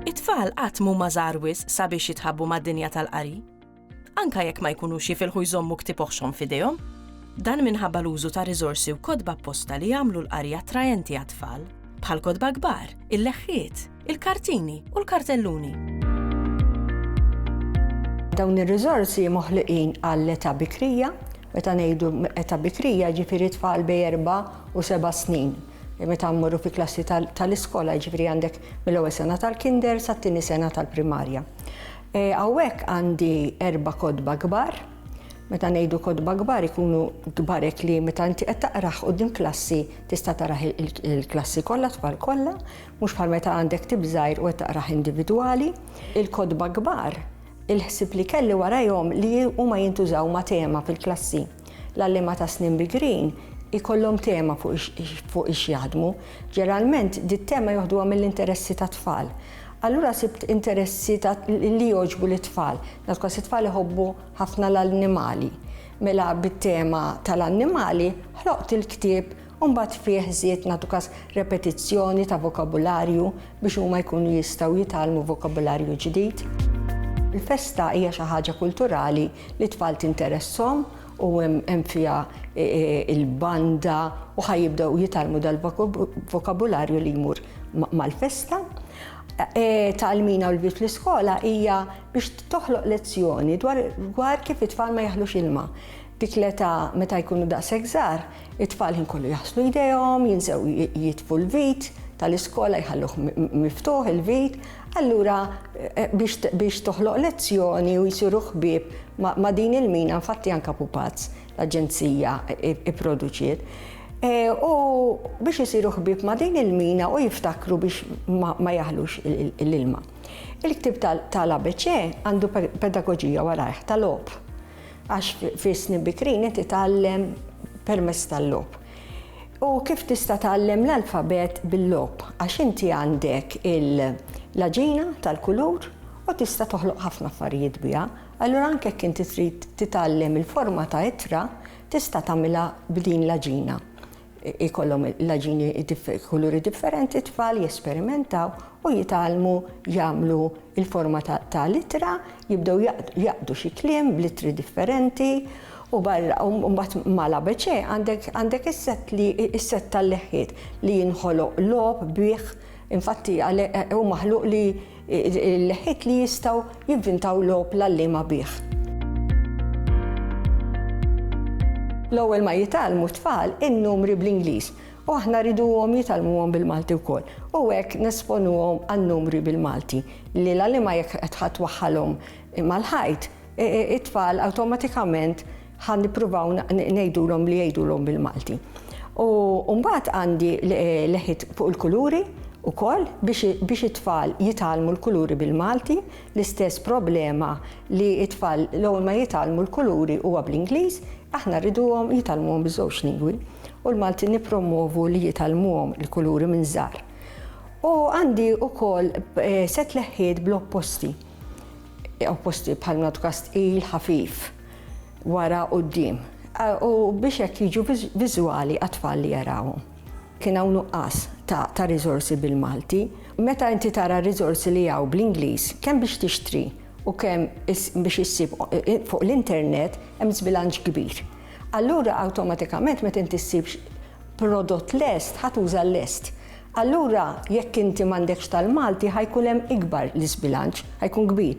It-tfal qatt mhuma żgħar wisq sabiex jitħabbu mad-dinja tal-qari. Anke jekk ma jkunux jifilħu jżommu ktieb oħxon f'idejhom. Dan minħabba l-użu ta' riżorsi u kotba apposta li jagħmlu l-qari attraenti għat-tfal, bħal kotba kbar, il-leħħiet, il-kartini u l-kartelluni. Dawn ir-riżorsi moħliqin għall-età bikrija, meta ngħidu età bikrija ġifieri tfal bej erba' u seba' snin meta mmorru fi klassi tal-iskola, ġifri għandek mill-ewwel sena tal-kinder sa t-tieni sena tal-primarja. E, hawnhekk għandi erba' kodba kbar, meta ngħidu kodba kbar ikunu kbarek li meta inti qed taqraħ din klassi tista' taraħ il-klassi kollha tfal kollha, Mhux bħal meta għandek ktieb żgħir u qed taqrah individwali, il-kotba kbar, il-ħsieb li kelli warajhom li huma jintużaw ma' tema fil-klassi. L-għalliema ta' snin bigrin ikollhom tema fuq ix jaħdmu. Ġeralment dit-tema joħduha mill-interessi tat-tfal. Allura sibt interessi li jogħġbu lit-tfal. Naf kważi t-tfal iħobbu ħafna l-annimali. Mela bit-tema tal-annimali ħloqt il-ktieb u mbagħad fih żied nagħtu każ repetizzjoni ta' vokabularju biex huma jkunu jistgħu jitgħallmu vokabularju ġdid. Il-festa hija xi ħaġa kulturali li t-tfal tinteresshom u hemm fiha e, e, il-banda u ħaj jibdew jitgħallmu dal-vokabularju li jmur mal-festa. E, Tal-mina u l-bit l-iskola hija biex toħloq lezzjoni dwar kif it-tfal ma jaħlux ilma. Dik l-età meta jkunu daqshekk żgħar It-tfal ħin kollu jaħslu jdejhom, jinsew jitfu l-vit tal-iskola jħalluh miftuħ il-vit, allura biex toħloq lezzjoni u jsiru ħbieb ma' din il-mina, infatti anke Pupazz, l-aġenzija ipproduċiet, u biex isiru ħbieb ma' din il-mina u jiftakru biex ma jaħlux l-ilma. Il-ktieb tal-ABC għandu pedagoġija warajh ta' logħob. għax fi snin bikrin qed itgħallem permezz tal-logħob. U kif tista' tgħallem l-alfabet bil-logħob għax inti għandek il-laġina tal-kulur u tista' toħloq ħafna affarijiet biha. Allura anke jekk inti trid titgħallem il-forma ta' ittra, tista' tagħmilha b'din l-għaġina. Ikollhom l-għaġini kuluri differenti t-tfal, jesperimentaw u jitgħallmu jagħmlu l-forma ta' l-ittra, jibdew jaqdu xi kliem bl-ittri differenti u barra u mbagħad ma' l-ABC għandek is-sett li s-sett tal-leħħiet li jinħoloq logħob bih Infatti, għalhekk hu maħluq li l-leħħiet li jistgħu jivvintaw logħob l-għalliema bih. L-ewwel ma jitgħallmu t-tfal in-numri bl-Ingliż u aħna rriduhom jitgħallmuhom bil-Malti wkoll. U hekk nesponuhom għan-numri bil-Malti li l-għalliema jekk qed twaħħalhom mal-ħajt, it-tfal awtomatikament Ħa nippruvaw ngħidulhom li jgħidulhom bil-Malti. U mbagħad għandi leħit fuq il-kuluri ukoll biex it-tfal jitgħallmu l-kuluri bil-Malti, l-istess problema li t-tfal l-ewwel ma jitgħallmu l-kuluri huwa bl-Ingliż, aħna rriduhom jitgħallmuhom biż-żewġ lingwi u l-Malti nippromwovu li jitgħallmuhom il-kuluri minn żgħar. U għandi ukoll eh, set leħħiet bl-opposti. Opposti bħal mnadu kastqil, ħafif. wara quddiem u biex hekk jiġu viżwali għat-tfal li jarawhom. Kien hawn nuqqas ta' riżorsi bil-Malti. Meta inti tara r-riżorsi li hawn bl-Ingliż, kemm biex tixtri u kemm biex issib fuq l-internet, hemm żbilanċ kbir. Allura awtomatikament meta inti ssib prodott lest, ħa tuża l-lest. Allura jekk inti m'għandekx tal-Malti ħa jkun hemm ikbar l-iżbilanċ, ħa jkun kbir.